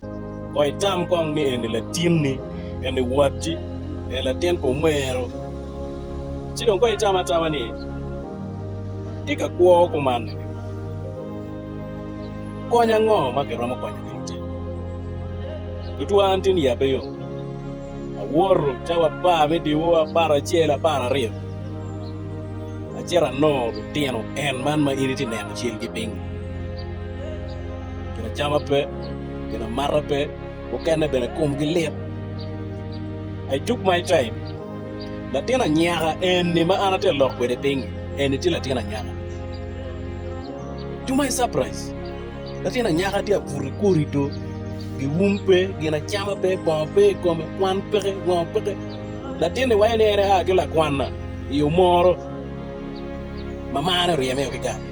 Kong itam kong ni en-ni latinni, en-ni watti, en latin pa omero. Ci dong kong itam atama ni, Atye ka kwo kumanni ni, kony ango ma kiromo konyo ki lutic? Tutwa an tin ya pe yom, awoto te wapar me diwu apar acel, apar aryo, acito anongo lutino en man ma in itye neno calgi piny-ngi. Ginacama pe, ginamata pe, mukene bene komgi lit. I tuk ma icaim, latin anyaka eni ma an atye ka lok kwede piny eni tye latin anyaka. To my surprise, latin anyaka tye ka buto i korido, giwum pe, ginacama pe, bongo pe i kome, kwan peke, ngo peke. Latin-ni waco ni en aa ki lakwanna i omoro, mamane oryeme o ki gang.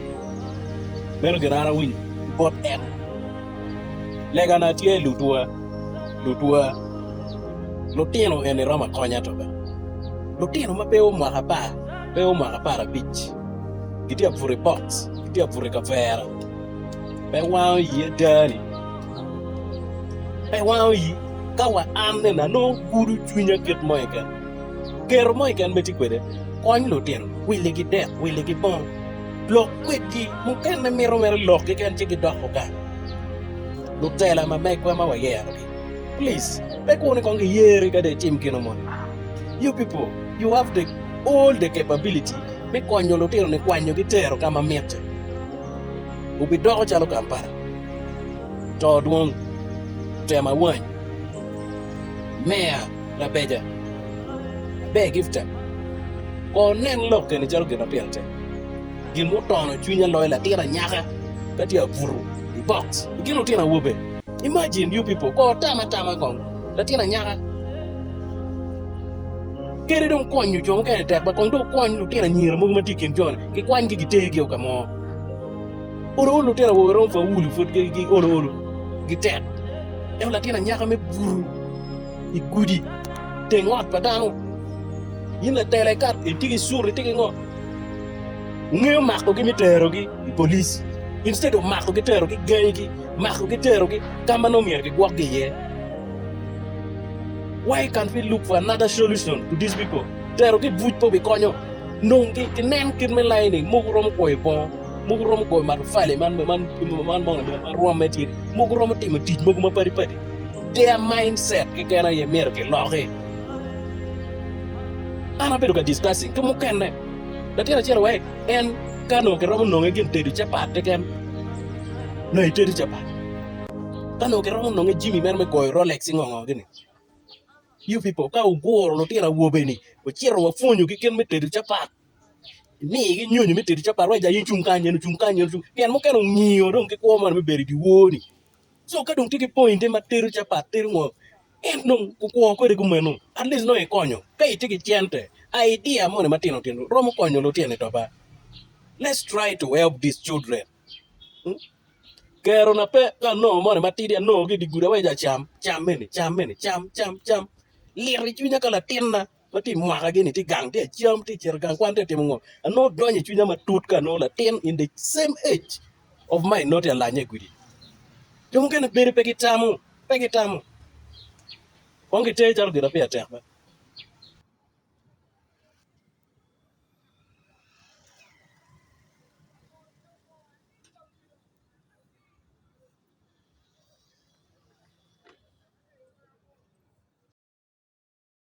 Meno gin an awinyo ki bot en, Legana tye lutwa, lutwa. Lutino eni romo akonya toka. Lutino ma pe omako apar, pe omako apar abic, gitye abuto i box, gitye abuto i kavera, pe wango ii ada ni, pe wango ii ka wa anne na nongo gudo cwinya kit mo keken. Gero mo keken ma itye kwede, kony lutino, willigi dek, willigi bong, lok kwedgi. Mukene mito mere lok keken ci gidok ogang. Lutela ma megwa ma wayerogi, please pe kur ni kong giyeri ka dong itim kino moni. You people, you have the all the capability me konyo lutino ni kwanyogi tero ka ma mitte. Wubidoko calo Kampala, to dwong, tema wany. Meya. Labeja, aber Gifta, kor nen lok keni calo gin ma pire tek. Gin mutono cwinya loyo latin anyaka ka tye abutu i box i kin lutino awobe. Imagine you people, kor tam atama kong latin anyaka kadi dong konyo jo mukene tek ba kong dong wukwony lutino anyira mogo ma tye i kin jo-ni, gikwanygi gitergi o ka mo. Olo olo litino awobe romo faulu pud gi olo olo gitek ento latin anyaka me buto i gudi teng ot pa dano in latela ikat itye ki sure itye ki ngo ngeyo makogi me terogi i polic instead of makogi terogi gangi gi makogi terogi kama nongo myero gigwok gi iye why can't we look for another solution to this people terogi i buc pe obi konyo nongo ginen kit me layo ni mogo romo kwoyo bongo. Mogo romo goyo matafali man rwamme tye, mogo romo timo tic mogo mapadi padi. Tye a mind set keken aye myero ki loki. An abedo ka discussing ki mukene latin acel wek en ka nongo ki romo nonge gin tedo capat keken nyo i tedo capat ka nongo ki romo nonge jimi meno me goyo Rolex ki ngongo gini. You people ka wuguro lutino awobe ni wucito wa pwonyo gi kit me tedo capat. imigi nyonyo me tedo capat wek ja in cung kany en ocung kany en ocung pien mukene ongiyo dong ki kwo man me bedo i dyewor-ni so ka dong tye ki poinite ma tedo capat tedo ngo en dong okwo kwede kumeno at least nongo ikonyo ka itye ki cente idea moni matino tino romo konyo lutino i toba let's try to help these children kero na pe ka anongo moni matidi anongo ki i dye gudo awaco jo cam cam eni cam eni cam cam cam lito i cwinya ka latinna. ma tye i mwaka gini tye gang tye acam tye cito gang kwan tye timo ngo anongo donyo i cwinya matut ka anongo latin in the same age of mine nongo tye alanya i gudi jo mukene bedo pe gitamo pe gitamo kong giter calo gira peya tek be.